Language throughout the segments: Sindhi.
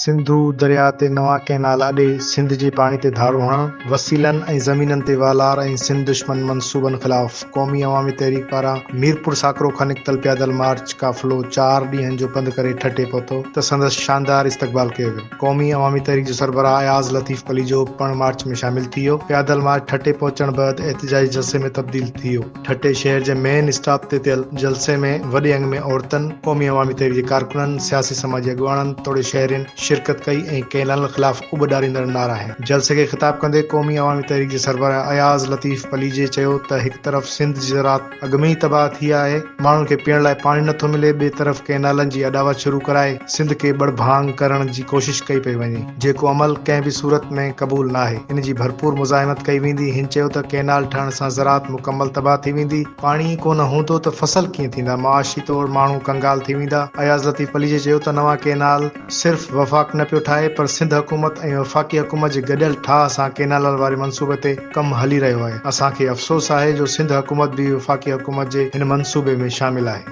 سنڌو درياء تي نوان ڪئنال اڏي سنڌ جي پاڻي تي ڌاڙو هڻڻ، وسيلن ۽ زمينن تي والار ۽ سنڌ دشمن منصوبن خلاف. قومي عوامي تحريڪ پاران ميرپور ساڪرو کان نڪتل پيادل مارچ قافلو چار ڏينهن جو پنڌ ڪري ٺٽي پهتو ته سندس شاندار استقبال ڪيو ويو. قومي عوامي تحريڪ جو سربراهه اياز لطيف پليجو پڻ مارچ ۾ شامل ٿي ويو. پيادل مارچ ٺٽي پهچڻ بعد احتجاجي جلسي ۾ تبديل ٿي ويو. ٺٽي شهر جي مين اسٽاپ تي ٿيل جلسي ۾ وڏي انگ ۾ عورتن، قومي عوامي تحريڪ جي ڪارڪنن، سياسي سماجي اڳواڻن توڙي شهرين شرڪت ڪئي ۽ ڪئنال خلاف اٻ ڏاريندڙ نعرا آهن. جلسي کي خطاب ڪندي قومي عوامي تحريڪ جي سربراهه اياز لطيف پليجي چيو ته هڪ طرف سنڌ جي زراعت اڳ ۾ ئي تباهه ٿي آهي، ماڻهن کي پيئڻ لاء پاڻي نٿو ملي، ٻئي طرف ڪئنالن جي اڏاوت شروع ڪرائي سنڌ کي ٻڙ ڀاڱ ڪرڻ جي ڪوشش ڪئي پئي وڃي، جيڪو عمل ڪنهن به صورت ۾ قبول ناهي، ان جي ڀرپور مزاحمت ڪئي ويندي، هن چيو ته ڪئنال ٺهڻ سان زراعت مڪمل تباهه ٿي ويندي، پاڻي ئي ڪونه هوندو ته فصل ڪيئن ٿيندا، معاشي طور ماڻهو ڪنگال ٿي ويندا، اياز لطيف پليجي چيو ته نوان ڪئنال. صرف وفاق نه پيو ٺاهي پر سنڌ حڪومت ۽ وفاقي حڪومت جي گڏيل ٺاهه سان ڪينالل واري منصوبي تي ڪم هلي رهيو آهي اسان کي افسوس آهي جو سنڌ حڪومت به وفاقي حڪومت جي هن منصوبي ۾ شامل آهي.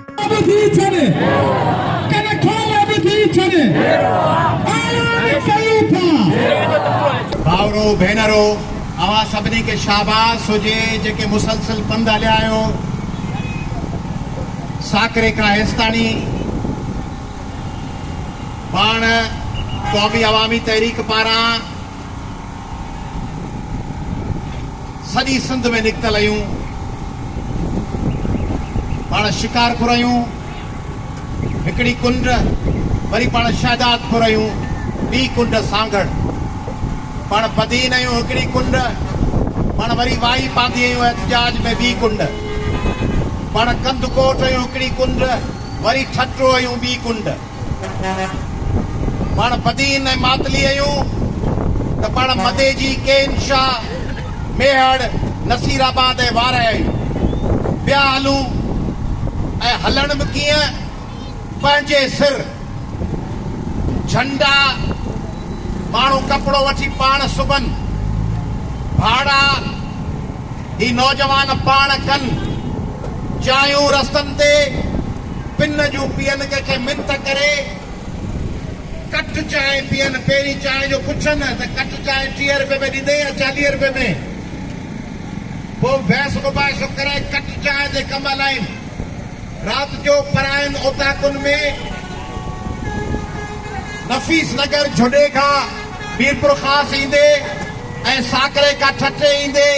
ڀائرو ڀينرو اوهان سڀني کي شاباس هجي جيڪي مسلسل پنڌ هليا آهيو ساڪري کان هيستاڻي. پاڻ قومي عوامي تحريڪ پاران سڄي سنڌ ۾ نڪتل اھيون پاڻ شڪارپور اھيون ھڪڙي ڪنڊ وري پاڻ شھدادپور اھيون ٻي ڪنڊ سانگھڙ پاڻ بدين اھيون ھڪڙي ڪنڊ پاڻ وري وائي پاندي اھيون احتجاج ۾ ٻي ڪنڊ پاڻ ڪنڌڪوٽ اھيون ھڪڙي ڪنڊ وري ٺٽو ۽ ٻي ڪنڊ پاڻ بدين ۽ ماتلي ۽ ته پاڻ مديجي، ڪين شاهه، ميهڙ، نصير آباد ۽ وارهه ۽ پيا هلون ۽ هلڻ به ڪيئن پنهنجي سر جهنڊا ماڻهو ڪپڙو وٺي پاڻ سبن ڀاڙا، هي نوجوان پاڻ ڪن جايون رستن تي پن جون پين ڪنهن کي منٿ ڪري ڪٽ چانهه پين پهرين چانهه جو پڇن ته ڪٽ چانهه ٽيهه رپئي ۾ ڏيندين يا چاليهه رپئي ۾ پوء ويس ابائي سو ڪري ڪٽ چانهه تي ڪم هلائين رات جو پراين اوطاقن ۾ نفيس نگر جھوڏي کان ميرپورخاص ايندي ۽ ساڪري کان ٺٽي ايندي.